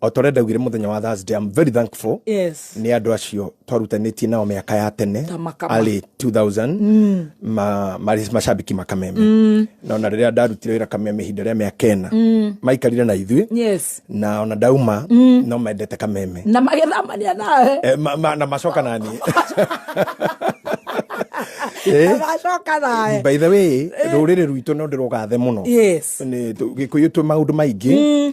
o ta ũrĩa ndaugire mũthenya wa thursday i'm very thankful yes nĩ andũ acio twarutanĩtie nao mĩaka ya tene Ta makama. early 2000 ma- marĩ macambiki makameme na ona rĩrĩa ndarutire wĩra kameme ihinda rĩa mĩaka ĩna maikarire na ithuĩ yes na ona ndauma no mendete kameme na magĩthamania nawe Eh, ma- ma- na macoka nani Eh, na macoka nawe by the way rũrĩrĩ rwitũ no ndĩrũgathe mũno yes Nĩ tũ- gĩkũyũ twĩ maũndũ maingĩ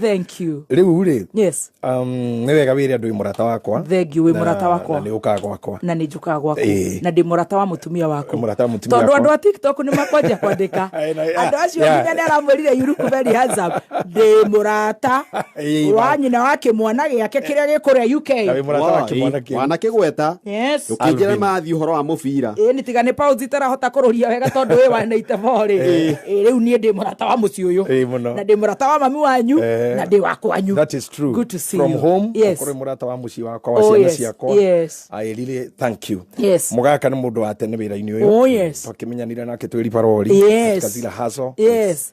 thank you riu ri yes um ni wega wire andu murata wakwa thank you wi murata wakwa na ni ukaga gwakwa na ni njukaga gwaku na ndi murata wa mutumia waku murata wa mutumia tondu andu a tiktok ni makwanja kwandika andu acio nginya ni aramwirire yuruku very handsome ndi murata wa nyina wa kimwana giake kiria gikuria uk na wi murata wa kimwana kiu mwana kigweta yes Ũkĩnjĩra mathiĩ ũhoro wa mũbira. ä nä tiga nä pausi tarahota kå rå ria wega tondå wä wa na itebo rä Ĩĩ. rä u niä ndä må rata wa må ciä å yå Ĩĩ mũno. na ndä må rata wa mami wanyu Eh. na ndä wa kwanyu That is true. Good to see From you. home, Yes. kũrĩ mũrata wa mũciĩ wakwa wa Oh, ciana yes, ciakwa. yes. I really thank you. Yes. Mũgaka nĩ mũndũ wa tene wĩra-inĩ ũyũ. Oh, yes. Twakĩmenyanire nake twĩ ribarori. Yes. Katika zile hustle. yes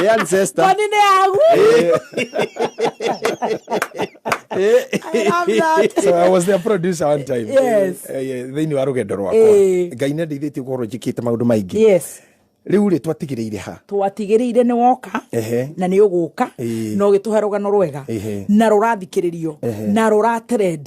Ni ancestor. Kwani ni yangu? I love that. so I was their producer one time Yes. thä-inä wa rå gendo rwakwa Eh. ngai nä ndeithä tie korwo njä kä te maå ndå maingä Yes. rä u rä twatigä rä ire ha twatigĩrĩire nĩ woka Ehe. na nĩ ũgũka Ĩĩ. na ũgĩtũhe rũgano rwega Ehe. na rũrathikirio Ehe. na rũratrend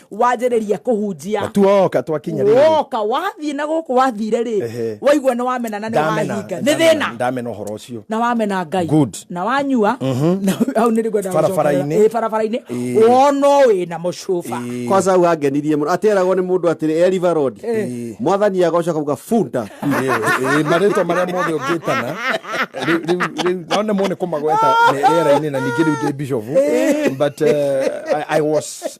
wanjĩrĩria kũhunjia tu woka twakinya rĩrĩ woka wathiĩ na gũkũ wathire rĩ Ehe. waigua nĩ wamena na nĩ ndamena wahinga nĩ ndamena- thĩna ndamena ũhoro ũcio na wamena ngai Good. na wanyua na hau nĩ rĩngwenda Barabara-inĩ. barabara-inĩ Ĩĩ. wonwo wĩ na mũcuba Ĩĩ. kwanza hau angenirie mũno atĩ eragwo nĩ mũndũ atĩrĩ eriva road Ĩĩ. mwathani agocoka kuga bunda Ĩĩ, ĩĩ, marĩtwa marĩa mothe ũngĩtana rĩu- rĩu- rĩu- no nĩ mone kũmagweta me- rĩera-inĩ na ningĩ rĩu ndĩ bishofu but uh, I, I was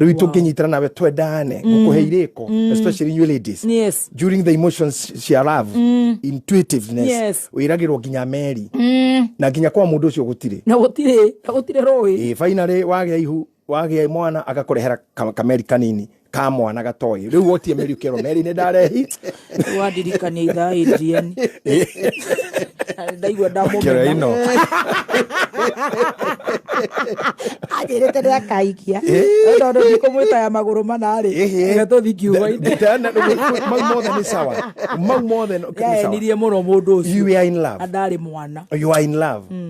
rĩu wow. tũngĩnyitana nawe twendane mm. ngũkũhe irĩko mm. especially you ladies yes. during the emotions cia love mm. intuitiveness yes. wĩragĩrwo nginya meri mm. na nginya kwa mũndũ ũcio gũtirĩ na gũtirĩ na gũtirĩ rũĩ eh, finally wagĩa ihu wagĩa mwana agakũrehera kameri kanini ka mwana gatoĩ rä u wotie mä riukero merä nä ndarehi wandirikania ithaa Adrian ndaigua ndamũmena ino anjĩrĩte nĩ akaikia tondũ ndikũmwĩta ya magũrũ manarĩ reke tũthi kiugo-inĩ mau mothe nĩ sawa mau mothe nĩ sawa yaenirie mũno mũndũ You are in love. ũcio na ndarĩ mwana you are in love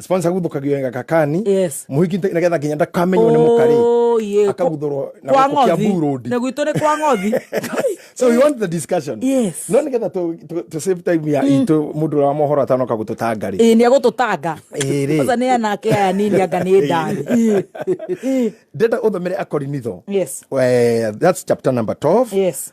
sponsor guthukagio wega kakani Yes. muhiki nĩ getha nginya ndakamenywo nĩ mũkari Oh, yeah. akaguthũrwo na Kwa gũkũ Kiambu ngothi. road. Na gwitũ nĩ kwa ngothi so we want the discussion Yes. no nä getha tå- tå tå save time ya itå må ndå å rä wa mohoro atanoka gå tå tanga rä Ĩĩ, nĩ egũtũtanga Ĩĩ rĩ. Kwanza nĩ anake aya nini anga nĩ ndani Ĩĩ. Ĩĩ. ndenda å thomere akorinitho Yes. Eh, that's chapter number 12 Yes.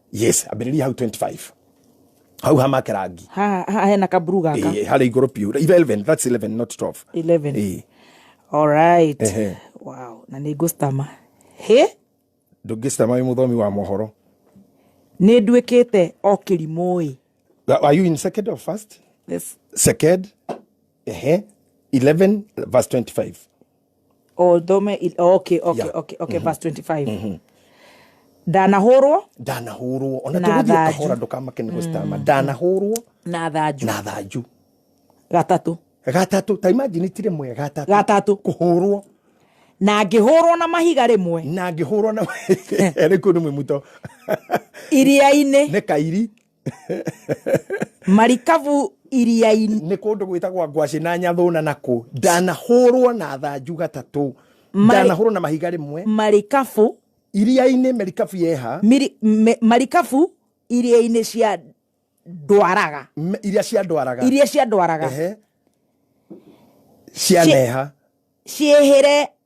yes ambĩrĩria hau 25 hau hamake rangi ha ha hena kaburu gaka Eh, harĩa igũrũ biũ 11 that's 11 not 12 11 Eh, alright Ehe. wow na nĩ ngũstama he ndũngĩcitama wĩ mũthomi wa mohoro nĩ nduĩkĩte o kĩrimũĩ are you in second or first This- second ehe 11 verse 25 o thome i- okay okay Yeah. okay okay verse 25 ndanahũrwo ndanahũrwo ona Na tũgũthiĩ thanju. kahora ndũkamake nĩ gũcitama ndanahũrwo na thanju na thanju gatatũ gatatũ ta imagine ti rĩmwe gatatũ gatatũ kũhũrwo na ngĩhũrwo na mahiga rĩmwe na ngĩhũrwo na rĩkũ nĩ mwĩmuto iria-inĩ nĩ kairi marikabu iria-inĩ nä kå ndå gwä tagwa ngwacä na nyathå na nakå ndanahå rwo na thanju gatatå Marĩ- ndanahå rwo na mahiga rä mwe marikabu iria-inä merikabu yeha miri- me- marikabu iria-inĩ cia ndwaraga me- iria ciandwaraga iria cia ndwaraga Ehe. cianeha ciĩhĩre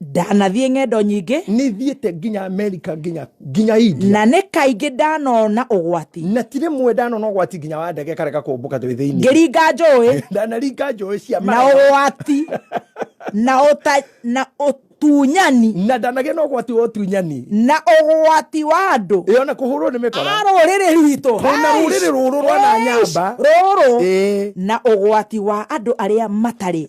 ndanathiĩ ng'endo nyingĩ nĩ thiĩte nginya amerika nginya nginya india na nĩ kaingĩ ndanona ũgwati na ti rĩmwe ndanona ũgwati nginya wa ndege kareka kũmbũka twĩ thĩinĩ ngĩringa njũĩ ndanaringa njũĩ cia na marathon. ũgwati na ũta na ũtunyani na ndanagĩa na ũgwati wa ũtunyani na ũgwati wa andũ ĩyo na kũhũrwo nĩ mĩkora a rũrĩrĩ rwitũ Twĩ na rũrĩrĩ rũrũ rwa na nyamba. rũrũ Ĩĩ. na ũgwati wa andũ arĩa matarĩ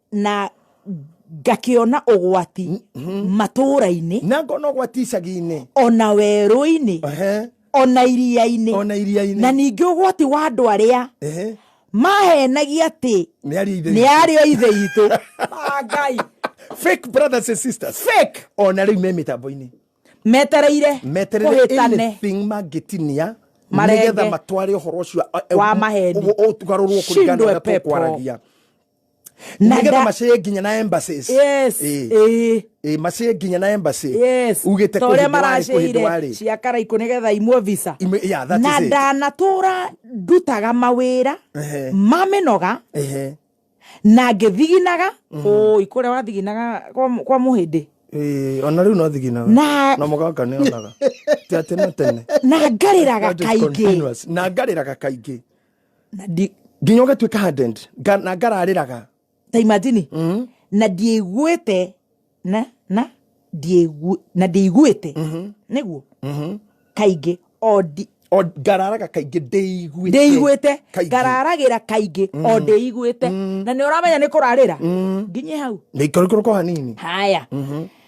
na ngakĩona ũgwati matũũra-inĩ na ngona ũgwati icagi-inĩ ona werũ-inĩ Ehe, ona iria-inĩ ona iria-inĩ na ningĩ ũgwati wa andũ arĩa Ehe, mahenagia atĩ nĩ aria ithe nĩ arĩo ithe itũ Ah, ngai fake brothers and sisters fake ona rĩu me mĩtambo-inĩ metereire meterere kũhĩtane anything mangĩtinia Marenge. nĩgetha matware ũhoro ũcio Wa maheni. ũtugarũrwo kũringana na Shindwe ũrĩa pepo. tũkwaragia na nĩgetha nda- macĩe nginya na embassies yes Ĩĩ. ĩĩ Ĩĩ, macĩe nginya na embassy yes ugĩte ta ũrĩa maracĩire maracĩire cia karaikũ nĩgetha imwo visa yeah, that na is it. ndanatũra ndutaga mawĩra Ehe. ma mĩnoga Ehe. na ngĩthiginaga ũi kũrĩa wathiginaga kwa mũ- kwa mũhĩndĩ Ĩĩ, ona rĩu no thiginaga Na- na mũgaka nĩ onaga ti atĩ na tene na ngarĩraga That is kaingĩ continuous. na ngarĩraga kaingĩ na ndi nginya ũgatuĩka hardened nga- na ngararĩraga ta imagine mm. na ndiĩiguĩte na na ndiĩigu- na ndiĩiguĩte nĩguo kaingĩ o ndi- o ngararaga kaingĩ ndĩiguĩte ndĩiguĩte Kaingĩ. ngararagĩra kaingĩ o ndĩiguĩte na nĩ ũramenya nĩ kũrarĩra nginyĩ hau nĩikũrũkũrũko hanini haya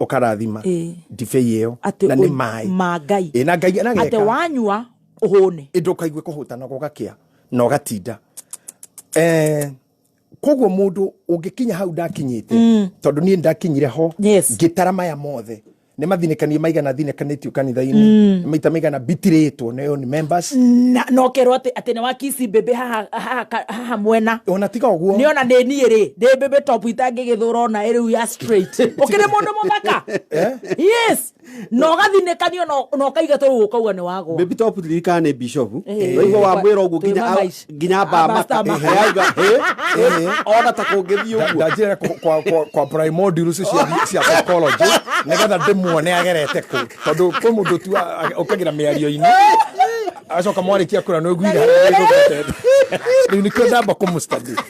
ũkarathima Ĩĩ. ndibei ĩyo atĩ na nĩ ũi- maĩ ma ngai Ĩĩ, na ngai atĩ anageka wanyua ũhũne ĩndũ ũkaigue kũhũta na gũgakĩa na ũgatinda Eh, koguo mũndũ ũngĩkinya hau ndakinyĩte tondũ niĩ ndakinyire ho Yes. ngĩtara maya mothe nĩ mathinĩkanie maigana thinĩkanĩtio kanitha-inĩ maita maigana bitirĩtwo nĩyo nĩ members na nokerwo atĩ atĩ nĩ wakici mbĩmbĩ haha- haha ka- haha mwena ona tiga ũguo nĩona nĩ niĩ rĩ ndĩ mbĩmbĩ top itangĩgĩthũra ona ĩrĩu ya straight ukiri mundu muthaka eh? yes na ugathinekanio na ukaiga toru ukauga ni wago baby top lirikana ni bishop waigua wa mwira uguo nginya nginya bamba ayaiga ona ta kungithii uguo ndajira kwa kwa kwa prime modules cia cia psychology nigetha ndimuone agerete ku tondu kwi mundu tu ukagira miario-ini acoka mwarĩkia kura nä å nguire rä u nä kio ndamba kå må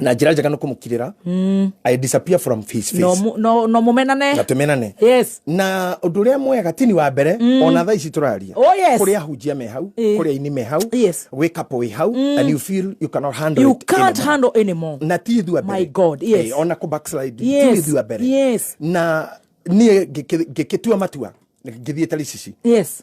na njĩra njega nĩ kũmũkirĩra i disappear from his face no mu- no- no mũmenane na tũmenane yes na ũndũ ũrĩa mwega tini wa mbere ona thaa ici tũraria Oh, yes. kũrĩ ahunjia me hau Eh. kũrĩ aini me hau Yes. wĩ kapo wĩ hau and you feel you cannot handle you it can't anymore. handle anymore na ti ithuĩ mbere My God, yes. Eh, ona kũ backslide ti Yes, ithuĩ mbere yes. na niĩ ngĩkĩ- ngĩkĩtua matua ngĩthiĩ taricici yes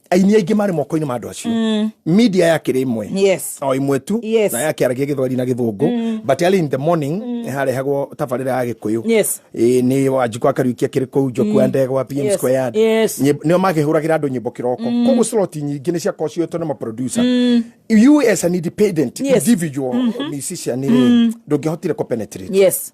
aini aingĩ marĩ moko-inĩ ma andũ acio mm. media yakĩrĩ imwe yes. o imwe tu yes. na yakĩaragia gĩthweri na gĩthũngũ mm. but early in the morning mm. harehagwo tabarĩra ya gĩkũyũ yes. e, nĩ wanjikũ akariukia kĩrĩ kũu njoku mm. andegwa pm yes. square yard yes. nĩo makĩhũragĩra andũ nyĩmbo kĩroko mm. koguo slot nyingĩ nĩ ciakorwo cioetwo nĩ maproducer mm. you as an independent yes. individual mm -hmm. musician mm. ndũngĩhotire kũpenetrate yes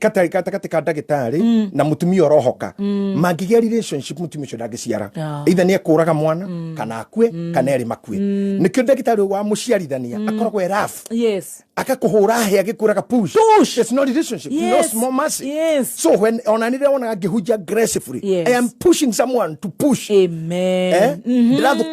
gatagatĩ gatagatĩ ka ndagĩtarĩ mm. na mũtumia ũrohoka mm. mangĩgĩa relationship mũtumia ũcio ndangĩciara Yeah. either nĩ ekũraga mwana kana akue kana erĩ makue nĩkĩo ndagĩtarĩ ũyũ wa mũciarithania akoragwo e rough yes akakũhũra hĩa gĩkũraga push Push. it's not relationship no Yes. small mercy Yes. so when ona nĩ ndĩronaga ngĩhunjia aggressively Yes. i am pushing someone to push amen eh? ndĩrathu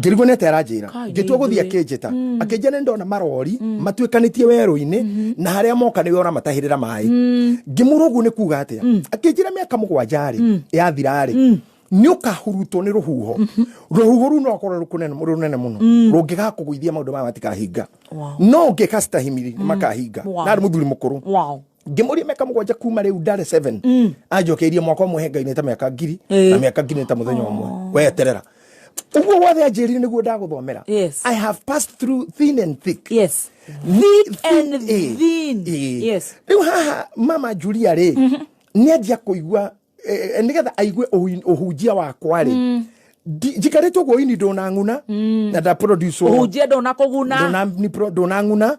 ngĩrigwo nete aranjĩra Kai, ngĩtua gũthiĩ nĩithuĩ. akĩnjĩta akĩnjĩra nĩ ndona marori matuĩkanĩtie werũ-inĩ na harĩa moka nĩwe ũramatahĩrĩra maĩ ngĩmũra ũguo nĩ kuga atĩa akĩnjĩra mĩaka mũgwanja-rĩ yathira-rĩ nĩ ũkahurutwo nĩ rũhuho rũhuho rũu no akorwo rũkũnene rũnene mũno rũngĩgakũgũithia maũndũ maya matikahinga Wow. no ũngĩka citahimiri nĩ makahinga Wow. na arĩ mũthuri mũkũrũ Wow. ngĩmũria mĩaka mũgwanja kuma rĩu ndare 7 mm. anjokeirie mwaka ũmwe hengai nĩ ta mĩaka ngiri eh. na mĩaka ngiri nĩ ta mũthenya ũmwe oh. weterera uguo wothe anjĩrire nĩguo ndagũthomera yes. i have passed through thin and thick yes. thick and eh. thin. Eh. Eh. Yes. rĩu haha mama julia rĩ mm -hmm. nĩ anjia kũigua eh, nĩgetha aigue ũhunjia wakwa rĩ mm njikarĩtwo guoini ndona ng'una mm. na ndaproduce ũhunjia ndona kũguna ndona ng'una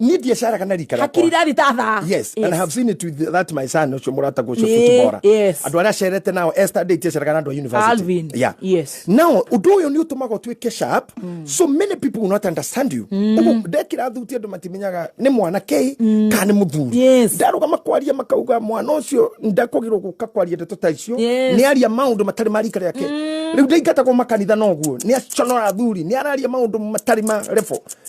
ni biashara kana rikara hakiri rari tatha yes, yes and i have seen it with that my son ucio murata gucio futbora yes andu aria cerete nao esther date cia kana andu university alvin yeah yes now undu uyu ni utumaga tuike sharp mm. so many people will not understand you mm. ugu ndekira thuti andu matimenyaga ni mwana ke mm. kana ni muthuri yes ndaruga makwaria makauga mwana ucio ndakugirwo guka kwaria ndeto ta icio yes. ni aria maundu matari marika yake mm. riu ndaingata ko makanitha noguo ni aconora thuri ni araria maundu matari ma refo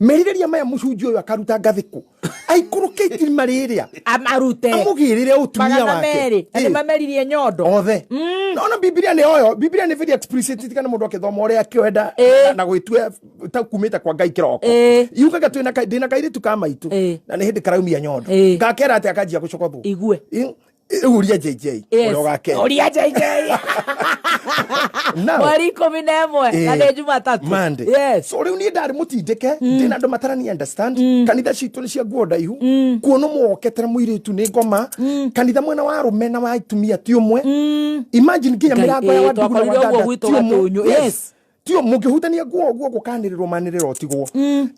merirĩria maya mũcunjĩ ũyũ akaruta ngathĩkũ aikũrũke itirima rĩrĩa amarute amũgĩrĩre ũtumia magana wake merĩ na Ĩ, nĩmameririe nyondo othe nona bibilia nĩ oyo bibilia nĩ very explicit tikana mũndũ akĩthoma ũrĩa akĩwenda Ĩ. na gwĩtua ta kumĩte kwa ngai kĩroko Ĩ. yugaga twĩna ka- ndĩna kairĩtu ka maitũ Ĩ. na nĩ hĩndĩ karaumia nyondo Ĩ. gakera atĩ akanjia gũcokothwo Igue. Ĩ, rĩu uria jj Yes. ũrĩa ũgakena Ũria JJ. Now- mweri ikũmi na ĩmwe na nĩ jumatatũ Monday. Yes. so rĩu niĩ ndarĩ mũtindĩke ndĩna andå matarani understand kanitha citå nĩ cia nguo ndaihu kuona mwoketere mũirĩtu nĩ ngoma kanitha mwena wa arũme na wa atumia ti ũmwe imagine nginya Ngai, mĩrango ya eh, wandugu na twakorire ũguo wadada gwitũ ti ũmwe. gatũnyũ, Yes. yes. ti ũmwe mũngĩhutania nguo ũguo gũkanĩrĩrwo manĩrĩro tigwo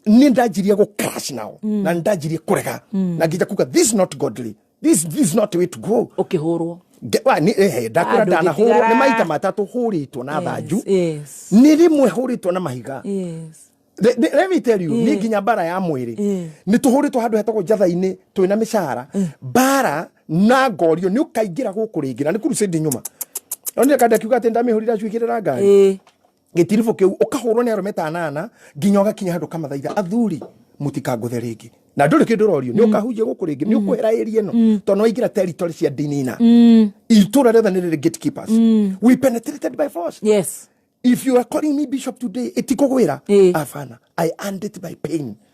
niĩ ndanjirie gũcrash nao na ndanjirie kũrega na nginya kuga this not godly this, this is not the way to go ukihurwo eh, ndakura ndanahurwo nä maita matatå hå rä two na thanju nä rä mwe hå rä two na mahiga yes let me tell you ni nginya bara ya mwiri ni tuhuritwo handu hetagwo njatha-ini twi na micara bara na ngorio ni ukaingira guku ringi na ni crusade nyuma onire kandi akiuga ati ndamihurira cuikirira ngari gĩtiribũ kĩu ũkahũrwo nĩ arũme ta anana nginya ũgakinya handũ kamathaitha athuri mũtikangũthe rĩngĩ na ndũrĩ kĩndũ ũrorio nĩ ũkahunjia gũkũ rĩngĩ nĩ ũkwehera ĩri ĩno tondũ nĩ waingĩra territory cia ndini na itũra rĩothe nĩ rĩrĩ gatekeepers we penetrated by force yes if you are calling me bishop today itikũgwĩra Ĩĩ. afana i earned it by pain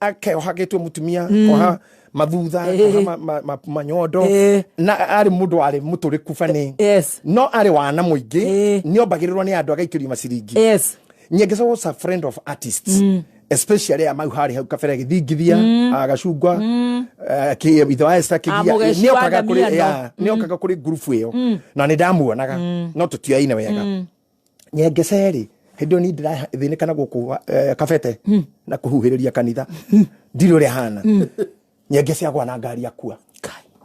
ake ohagitwe mutumia mm. oha mathutha oha manyondo na ari mundu ari muturiku bani no ari wana muingi ni ombagirirwo ni andu agaikirio maciringi nyengeca was a friend of artists mm. especially ya mau hari hau kabere githingithia mm. agacungwa mm. eh, ki ithe wa Esther kigia ah, ni okaga kuri ni okaga kuri group iyo na ni ndamuonaga no tutiaine wega nyengecerĩ hĩndĩ ĩyo ni ndĩrathĩnĩka na gũkũ eh, kabete hmm. na kũhuhĩrĩria kanitha hmm. ndirĩ ũrĩa hana hmm. nyengece agwa na ngari akua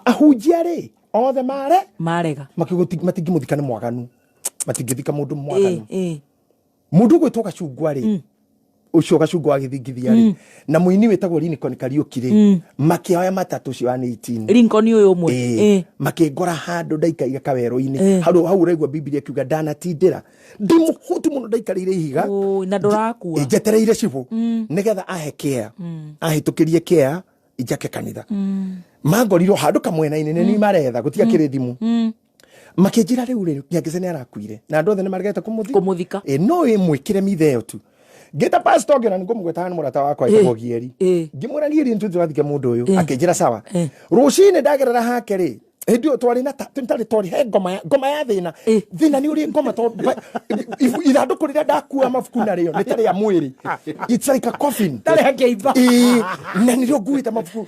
ahunjia rĩ othe mare marega matingĩmũthika nĩ mwaganu matingĩthika mũndũ mwaganu eh, eh. mũndũ ũgwĩtwo gacungwa rĩ ucio gacungo wa githingithia ri mm. na muini witagwo Lincoln Kariuki ri mm. makioya matatu ucio wa 18 Lincoln uyu umwe eh, eh. makingora handu ndaika iga kaweru-ini eh. hau hau uraigua Biblia kiuga ndanatindira ndi muhutu muno ndaikarire ihiga na ndurakua njetereire cibu mm. nigetha ahe kia mm. ahitukirie kia ijake kanitha mm. mangorirwo handu kamwena-ini ni mm. maretha gutiakire mm. thimu mm. makĩnjĩra rĩu rĩ nyangĩce nĩ arakuire na andũ othe nĩ maregete kũmũthi kũmũthika ĩ no ĩmwĩkĩre mitha ĩyo tu ngĩta pastor ũngĩ ona nĩ ngũmũgwetaga nĩ mũrata wakwa Ĩ, ĩtagwo gieri ĩ. ngĩmwĩra gieri nĩ tũthike mũndũ ũyũ Ĩ. akĩnjĩra sawa Ĩ. rũcinĩ ndagerera hake rĩ hĩndĩ ĩyo twarĩ na ta- twarĩ twarĩ he ngoma ya- ngoma ya thĩna Ĩ. thĩna nĩ ũrĩ ngoma tondũ ba- ibu- ithandũkũ rĩrĩa ndakua mabuku narĩo nĩ ta rĩa mwĩrĩ it's like a coffin Tarĩ hakĩimba. Ĩ, na nĩrĩo nguĩte mabuku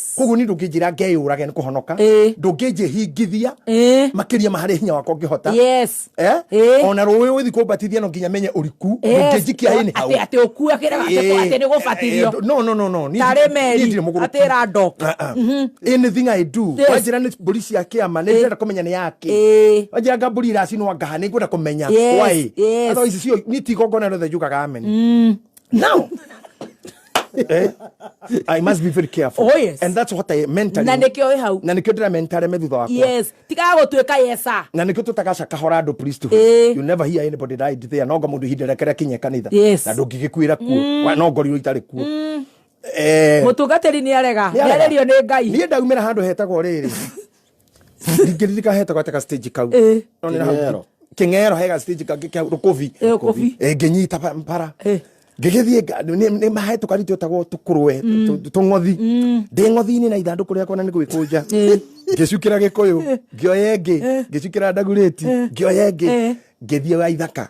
koguo ni ndũngĩnjĩra ngeyũrage nĩ kũhonoka Eh. ndũngĩnjĩhingithia Eh. makĩria ma harĩa hinya wakwa ũngĩhota yes Eh? Eh. ona rũĩ ũgĩthi kũmbatithia no nginya menye ũriku ndũngĩnjikia hĩ nĩ hau atä atä å kua kä rega atä Eh, nä gå eh, batithio no no no no niĩ Tarĩ ndirĩ- Meri, niĩ ndirĩ mũgũrũki. atĩ ĩra ndoka. Ah, ah. anything i do Yes. wanjĩra nĩ mbũri cia kĩama nĩ ndĩrenda kũmenya nĩ yake Eh. wanjĩra nga mbũri iracinwo ngaha nĩ ngwenda kũmenya Yes, why yes. Otherwise, cio- niĩ ti igongona rĩothe njugaga amen now eh? I must be very careful. Oh, yes. And that's what I mentally. Na nikio hau. Na nikio ndira mentally me thutha wakwa. Yes. Tiga gutwika yesa. Na nikio tutagaca kahora andu Kristo. Eh. You never hear anybody die there. No ngo mundu hindira kira kinye kanitha. Yes. Na ndungigikwira kuo. Mm. Wa no ngori itari kuo. Mm. Eh. Mutungatiri ni arega. Ni arerio ni Ngai. Ni ndaumira handu hetagwo riri. ndingĩririka hetagwo atĩ ga stage kau Eh. No nĩ na hau- Kĩng'ero. kĩng'ero he ga stage kangĩ kĩa rũkũbi Eh, rũkũbi. Eh, ngĩnyita ba- bara Eh. ngĩgĩthiĩ nga- nĩ- nĩ mahe tũkari twĩtagwo tũkũrwe tũ- tũng'othi ndĩ ng'othi-inĩ na ithandũkũ rĩakwa na nĩ gwĩkũnja ngĩcukĩra gĩkũyũ ngĩoya ĩngĩ ngĩcukĩra ndagurĩti ngĩoya ĩngĩ Eh. ngĩthiĩ wa ithaka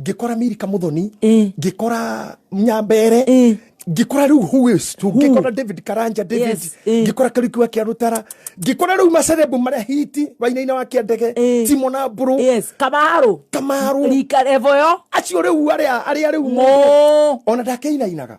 ngikora mirika muthoni Eh. ngikora nyambere Eh. ngikora riu huistu ngikora david karanja david Yes, eh. ngikora kariku wa kiarutara ngikora riu macerebu maria hiti wainaina wa kiandege Eh. timo na mburu yes kamaru kamaru rika revoyo acio riu aria aria riu Mo. ona ndakeinainaga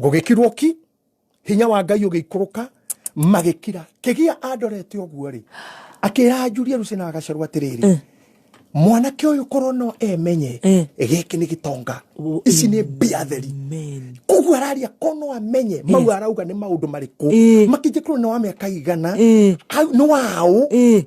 gũgĩkirwo ki hinya wa ngai ũgĩikũrũka magĩkira kĩgia andorete ũguo rĩ akĩra anjuri eruce na agacerwo atĩrĩrĩ eh. mwanake ũyũ korwo no emenye eh. gĩkĩ nĩ gĩtonga oh, ici nĩ mbia theri koguo araria ko no amenye eh. mau arauga nĩ maũndũ marĩkũ makĩnjĩkorwo nĩ wa mĩaka igana nĩ waũ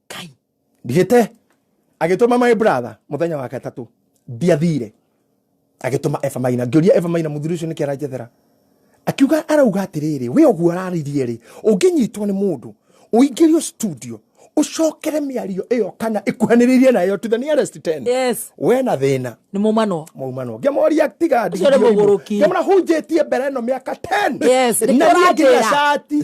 kai ndigite agituma my brother muthenya wa gatatu ndiathire agituma Eva Maina ngioria Eva Maina muthuri ucio niki aranjethera akiuga arauga atiriri we uguo araririe ri unginyitwo ni mundu uingirio studio ucokere miario iyo kana ikuhaniririe nayo to the nearest 10 yes we na thina ni mumano maumano ngemoria tiga Ũcio nĩ mũgũrũki. ngemona hunjĩtie mbere ĩno mĩaka 10 Yes, nĩ na niĩ kĩo ngĩra ũranjĩra. cati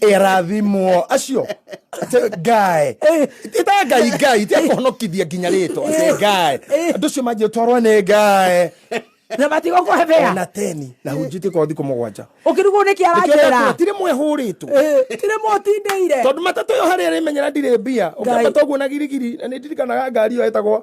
erathimwo acio ngae ita ngai ngai tia kũhonokithia nginya rĩtwa ngae andũ ũcio manjĩ ũtwarwo nĩ ngae na matigo kũhebea na teni na hunjĩtie kwa thikũ mũgwanja ũkĩrugwo nĩ kĩaranjĩra tirĩ mwe hũrĩtwo tirĩ mwe ũtindĩire tondũ matatũ ĩyo harĩa ĩrĩmenyera ndirĩ mbia ũkĩambata ũguo na girigiri na nĩ ndirikanaga ngari ĩyo ĩtagwo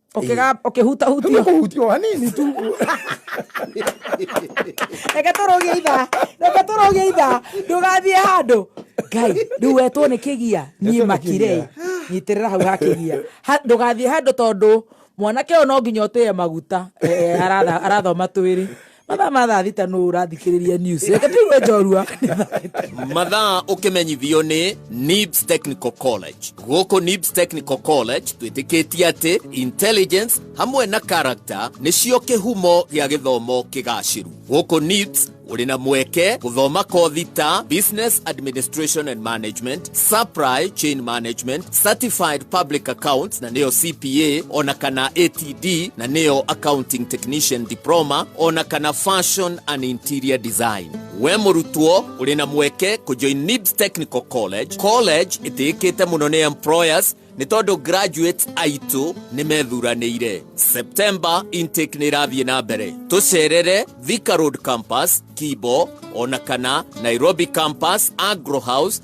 Ũkĩga- ũkĩhutahutio Ndio kuhutio hanini tu. reke tũrũgie ithaa reke tũrũgie ithaa ndũgathiĩ handũ ngai rĩu wetwo nĩ kĩgia niĩ Wetwo nĩ makire kĩgia. nyitĩrĩra hau ha kĩgia Ha- ndũgathiĩ handũ tondũ mwanake ũyũ no nginya ũtĩye maguta Eh, aratha- arathoma twĩrĩ mathaa ma thaa thita nũ ũrathikĩrĩria news reke tũigue njorua mathaa ũkĩmenyithio nĩ nibs technical college gũkũ nibs technical college twĩtĩkĩtie atĩ intelligence hamwe na character nĩcio kĩhumo gĩa gĩthomo kĩgacĩru gũkũ nibs ũrĩ na mweke gũthoma kothi ta business administration and management supply chain management certified public accounts na nĩyo cpa ona kana at TTD na nĩyo Accounting Technician Diploma ona kana Fashion and Interior Design. We mũrutwo ũrĩ na mweke kũjoin NIBS Technical College, college ĩtĩĩkĩte mũno nĩ employers nĩ tondũ graduates aitũ nĩ methuranĩire. September intake nĩ ĩrathiĩ na mbere. Tũcerere Thika Road Campus, Kibo, ona kana Nairobi Campus, Agro House,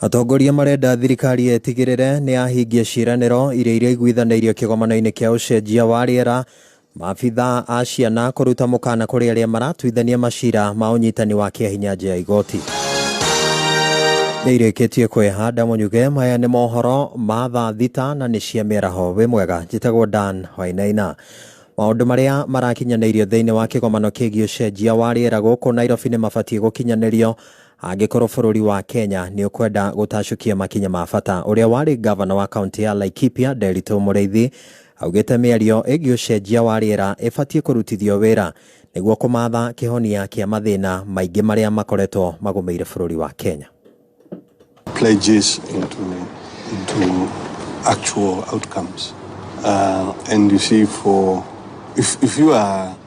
Atongoria marenda thirikari ĩtigĩrĩre nĩ yahingia ciĩranĩro iria iraiguithanĩirio kĩgomano-inĩ kĩa ũcenjia wa rĩera maabitha a ciana kũruta mũkana kũrĩ arĩa maratuithania macira ma ũnyitani wa kĩahinya nja ya igoti nĩ irĩkĩtie kwĩhanda mũnyuge maya nĩ mohoro ma thaa thita na nĩ cia mĩaraho wĩ mwega njĩtagwo dan wainaina maũndũ marĩa marakinyanĩirio thĩinĩ wa kĩgomano kĩgiĩ ũcenjia wa rĩera gũkũ nairobi nĩ mabatiĩ gũkinyanĩrio Angĩkorwo bũrũri wa Kenya nĩũkwenda gũtacũkia makinya ma bata, ũrĩa warĩ ngavana wa kaũntĩ ya Laikipia Nderitũ Mũrĩithi augĩte mĩario ĩgiĩ ũcenjia wa rĩera ĩbatiĩ kũrutithio wĩra nĩguo kũmatha kĩhonia kĩa mathĩna maingĩ marĩa makoretwo magũmĩire bũrũri wa Kenya. pledges into into actual outcomes. Uh, and you see, for if if you are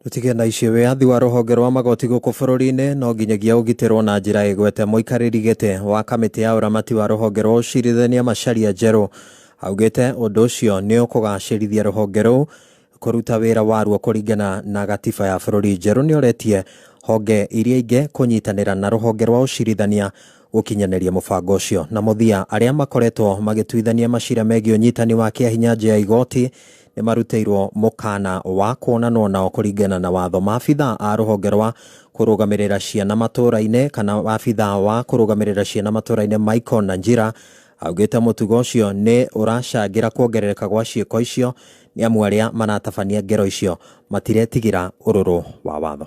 Tũtige na icio wĩyathi wa rũhonge rwa magoti gũkũ bũrũri-inĩ no nginyagia ũgitĩrwo na njĩra ĩgwete Mũikarĩri gĩtĩ wa kamĩtĩ ya ũramati wa rũhonge rwa ũcirithania Macharia Njerũ augĩte ũndũ ũcio nĩũkũgacĩrithia rũhonge rũu kũruta wĩra waruo kũringana na gatiba ya bũrũri Njerũ nĩoretie honge iria ingĩ kũnyitanĩra na rũhonge rwa ũcirithania gũkinyanĩria mũbango ũcio na mũthia arĩa makoretwo magĩtuithania macira megiĩ ũnyitani wa kĩahinya nja ya igoti nĩ marutĩirwo mũkana wa kuonanwo nao kũringana na watho. Maabitha a rũhonge rwa kũrũgamĩrĩra ciana matũũra-inĩ kana abitha wa kũrũgamĩrĩra ciana matũũra-inĩ Michael Nanjira augĩte mũtugo ũcio nĩ ũracangĩra kuongerereka gwa ciĩko icio nĩ amu arĩa maratabania ngero icio matiretigĩra ũrũrũ wa watho.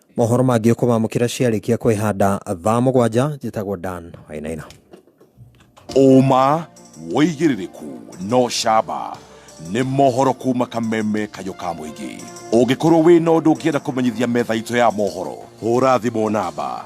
mohoro mangĩ ũkũmamũkĩra ciarĩkia kwĩhanda thaa mũgwanja njĩtagwo dan wainaina ũma wĩigĩrĩrĩku no camba nĩ mohoro kuma kameme kayũ ka mũingĩ ũngĩkorwo wĩ na ũndũ ũngĩenda kũmenyithia metha itũ ya mohoro hũra thimũ namba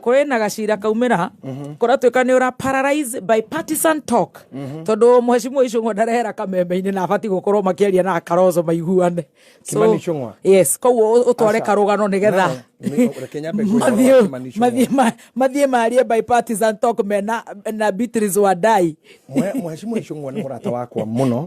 kũrĩ na gacira kaumĩra mhm. kũratuĩka nĩ ũra paralyze by partisan talk mhm. tondũ mheshimiwa icũng'wa ndarehera kameme-inĩ na abatiĩ gũkorwo makĩaria na akaroco maiguane yes koguo ũtware karũgano nĩ getha mathiĩ marie by partisan talk me na Beatrice Wandai mheshimiwa icũng'wa nĩ mũrata wakwa mũno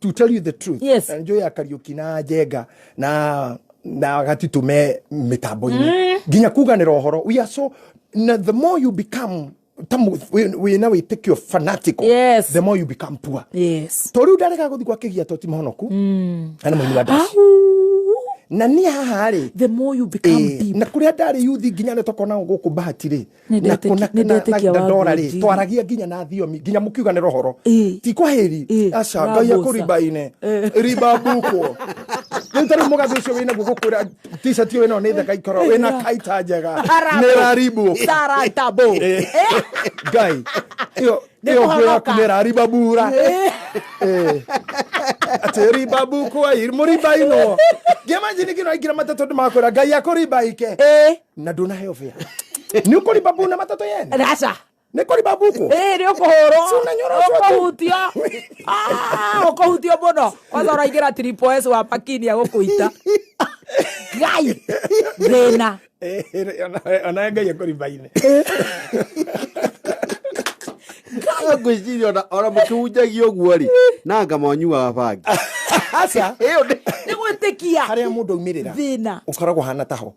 to tell you the truth Yes. na njoya kariuki na njenga na na gatitu me mitambo-inĩ nginya kuganĩra ũhoro we are so na the more you become tamu wĩna wĩtĩkio fanatical Yes. the more you become poor yes to rĩu ndarega gũthiĩ gwa kĩgia to ti mũhonoku na nĩ mũini wa ndaci na niĩ haha rĩ the more you become Eh, deep na kå rä a ndarä yuthi nginya nä tokona gå kå bahati rä na kuna na na ndora ri twaragia nginya na thiomi nginya mukiuga ni rohoro ti kwa heri aca ngai akuriba ine riba buko riu tari mugathi ucio wina guo gukwira t-shirt iyo wina ni thaka ikoro wina kaita njega ni raribu saratabo ngai iyo iyo ngwe yaku ni rariba bura atä rimba mbuku ai må rimba ino ngä manjini ngä no aingä ra matatå ndä makwä ra ngai akå rimba ike na ndunaheo bia nä å kå rimba mbuna matatå yene raca nä kå rimba mbuku nä å kå hå rwo å kå hutio å kå hutio må no kwanza raingä ra tripos wa makinia gå kå ita ngai thä na ona ngai akå rimbainä ngwĩciria ona mũkĩhunjagia ũguo rĩ na anga monyuaga bangi aca ĩyo nĩ gwĩtĩkia harĩa mũndũ aumĩrĩra thĩna ũkoragwo hana taho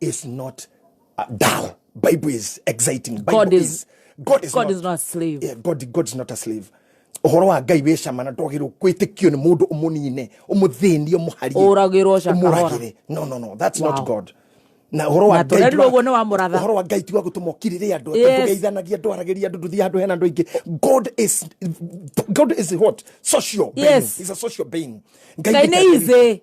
is not uh, dull. Bible is exciting. Bible God is, is God is God not, is not a slave. Yeah, God God is not a slave. Uhoro wa Ngai wĩ cama na ndwagĩrĩirwo kwĩtĩkio nĩ mũndũ ũmũnine ũmũthĩnie ũmũharie ũragĩrwo ũmũragĩre no no no that's wow. not God na horo wa ngai tuo guo ni wa muratha horo wa ngai tuo gutuma kirire andu tugeithanagia andu arageria andu nduthi andu hena andu ingi god is god is what social being yes. is a social being ngai ni ize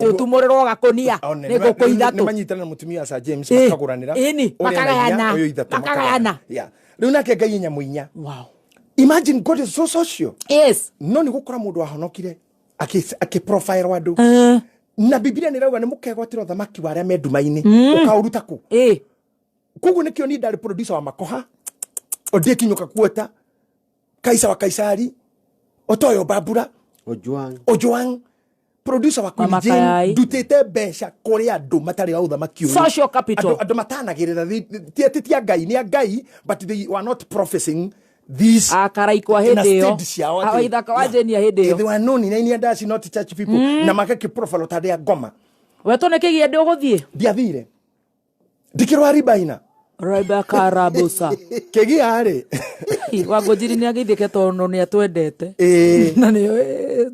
utumuriro gakunia ni nguku ithatu ni manyitana mutumia sa James makaguranira ini makagayana uyu ithatu makagayana riu nake ngai nyamu inya wow imagine god is so social yes no ni gukora mundu ahonokire aki profile wandu eh. na bibilia nirauga ni mukegwatira thamaki wa aria me nduma-ini mm. ukauruta ku eh. koguo nikio ni ndari producer wa makoha odie kinyuka kuota kaisa wa kaisari otoyo babura ojuang ojuang producer wa Queen Jane ndutite mbeca kuri andu matari a uthamaki uyu social capital andu matanagirira ti ati ti ngai ni ngai but they were not professing these akarai kwa hindi yo awa ithaka wa Jane ya hindi yo they were known in any other not church people mm. na magaki profile tade ya ngoma we to ne kigi ndi uguthie ndiathire ndikirwa ribaina Raiba karabosa kigiarĩ wangũnjiri nĩ agĩithĩke tondũ nĩ atwendete ĩĩ na nĩ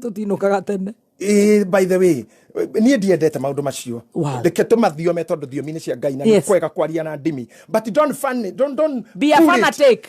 tũtinũkaga tene ĩĩ by the way niĩ ndiendete maũndũ macio Wow. reke tũmathiome tondũ thiomi-inĩ cia ngai na nĩ Yes. kwega kwaria na ndimi but don't fun, don't, don't Be a pull it. fanatic.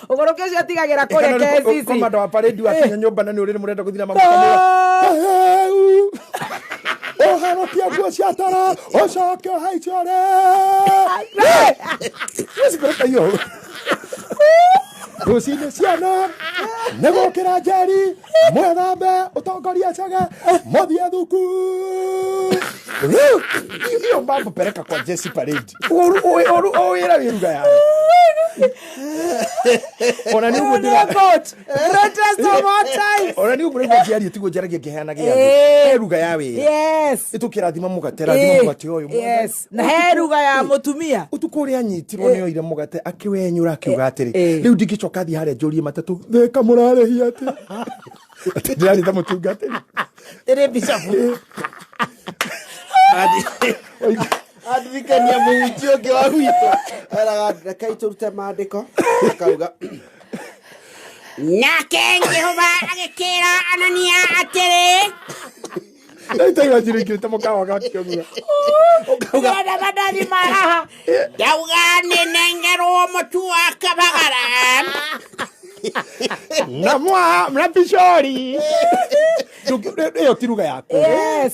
Ũgũrũ kĩcio atigagĩra kũrĩa KCC. komanda wa paredi wakinya nyũmba na nĩ ũrĩrĩ mũrenda gũthira mamũkamũra ũharũkia nguo cia tara ũcoke ũhaicio rĩ ũcikũrũkaio rũcinĩ ciana nĩ gũkĩra njeri mwĩthambe ũtongoria cege mũthiĩ thuku iyo mbambũpereka kwa jesi paredi Ũru- ũĩ- ũru- ũwĩra wĩ ruga yayo ona nĩ ũguo ndĩra- ona nĩ ũguo nĩguo ngĩaria tiguo njaragia ngĩheana gĩa Eh. he ruga ya wĩra yes nĩ tũkĩrathima mũgate rathima Eh, mũgate ũyũ yes na he ruga ya mutumia ũtukũ ũrĩa anyitirwo nĩ oire mũgate akĩwenyũra akiuga atĩrĩ eh. rĩu ndingĩcoka thiĩ harĩa njũrie matatũ theka mũrarĩhia atĩ atĩ ndĩrarĩta mũtungatĩri ĩrĩ bicabu andirikania mũhunjia ũngĩ wa gwitũ eraga reke itũrute maandĩko akauga nake jehova agĩkĩra anania atĩrĩ ndaitaigua njirĩkĩte mũkawa gakĩogua ũkauga ndĩrenda mandathi ma haha ndauga nĩnengerwo mũtu wa kabagara na mwa na bishori ndũngĩ ĩyo ti ruga yaku yes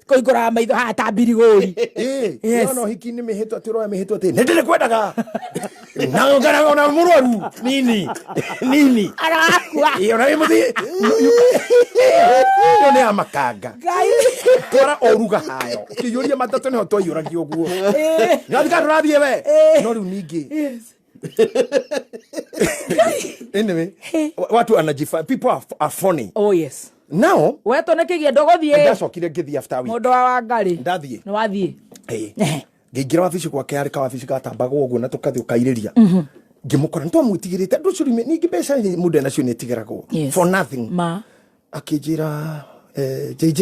koingora maitho haha ta mbirigori eh, yes. ona hiki ni mihitwa tiroya mihitwa ti ni ndiri kwendaga na ngana ona murwaru nini nini arakua iyo na muthi iyo ni amakanga twara oruga hayo kiyuria matatu ni ho twaiyuragio guo ngathika eh. turathie we eh. no riu ningi anyway wa- watu anajifa people are, are funny oh yes now wetå nä kä giendo gå thiä ndacokire ngĩthiĩ after week må ndå wa wangarä ndathiĩ nä wathiä Hey. ngĩingĩra wabici gwake arĩ kawabici gatambaga ũguo na tũkathi ũkairĩria ngĩmũkora nĩtwamwĩtigĩrĩte andũ ũcio rĩmwe- ningĩ mbeca nĩ- mũndũ enacio nĩ ĩtigĩragwo Yes. for nothing ma akĩnjĩra eh, jj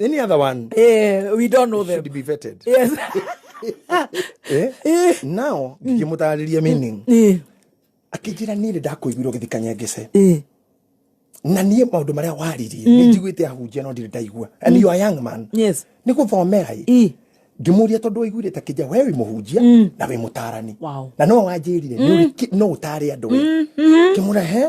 Any other one? Eh, we don't know them. Should be vetted. Yes. eh? Eh. Now, mm. ngĩmũtarĩria meaning. Mm. Eh. Akĩnjĩra niĩ nĩ ndakũiguirwo gĩthikanya ngĩce. Eh. Na niĩ maũndũ marĩa waririe mm. nĩ njiguĩte ahunjia no ndirĩ ndaigua. And mm. you are young man. Yes. Nĩ gũthomera ĩ. Eh ngimuria tondu wiguire ta kija we wi muhunjia mm. na wi mutarani wow. na no wanjirire mm. no utare andu we mm. mm-hmm. kimura he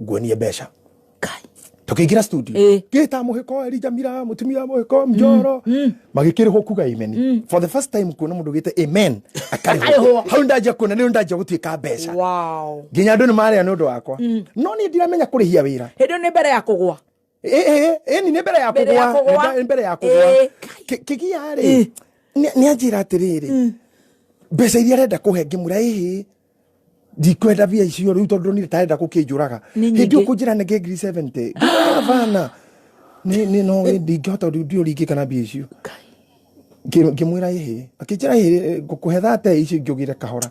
nguonie mbeca tukiingira studio Eh. ngita muhiko erija mira mutumia muhiko mjoro magikirihwo kuga amen for the first time kuona mundu gite amen akarihwo Akarihwo. hau ndajia kuona niyo ndajia gutuika mbeca wow nginya andu ni maria ni undu wakwa no ni ndiramenya kurihia wira hĩndĩ ĩyo nĩ mbere ya kũgwa Ĩ- ĩ- ĩni nĩ mbere ya Mbere ya kũgwa kũgwa. Nĩ mbe- nĩ mbere ya kũgwa Ĩ. Kĩ- kĩgia rĩ Ĩ. nĩ- nĩ anjĩra atĩrĩrĩ mbeca iria arenda kũhe ngĩmwĩra ĩhĩ ndikwenda mbia icio rĩu tondũ nire tarenda gũkĩnjũraga Nĩ hĩndĩ nyingĩ. ũkũnjĩra nenge ngiri 70 ndavana nĩ nĩ- no ĩ, ndingĩhota rĩu ndiũ ringĩ kana mbia icio Ngĩ- ngĩmwĩra ĩhĩ akĩnjĩra ĩhĩ ngũkũhe thate icio ingĩũgĩre kahora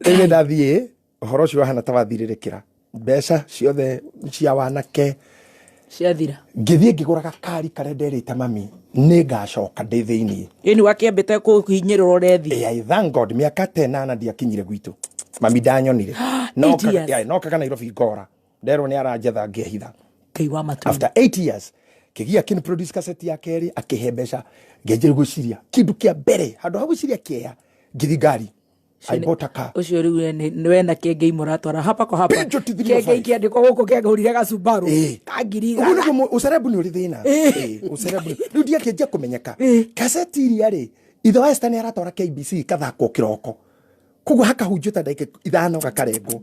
ĩrĩ ndathiĩ ũhoro ũcio wahana ta wathirĩrĩkĩra mbeca ciothe cia wanake ciathira ngĩthiĩ ngĩgũra gakari karĩa nderĩte mami nĩ ngacoka ndĩ thĩinĩ ĩni wakĩambĩte kũhinyĩrĩrwo rethi Eh, I thank God miaka tenana ndiakinyire gwitũ mami ndanyonire Nokaga- Idiot. yeah, nokaga nairobi ngora nderwo nä aranjetha ngä hitha ngai wa matå after 8 years kigia akin produce cassette ya keri akihe mbeca ngenjire gwiciria kindu kia mbere handu ha gwiciria kieya ngithi ngari i bought a car å cio rä u we na kä ngei må ratwara hapa kwa hapa Pinjo ti thirimo kä ngei five. kä andä ko gå kå kä ngå rire gacumbarå Eh. ka ngiri Ũguo igana. nĩguo mũ- ũcerebu nĩ ũrĩ thĩna Eh. Eh, ũcerebu nĩ- rĩu ndiakĩnjia kũmenyeka Eh. kaseti iria rĩ ithe wa Esther nĩ aratwara kbc ikathakwo kĩroko koguo hakahunjio ta ndagĩka ithano gakarengwo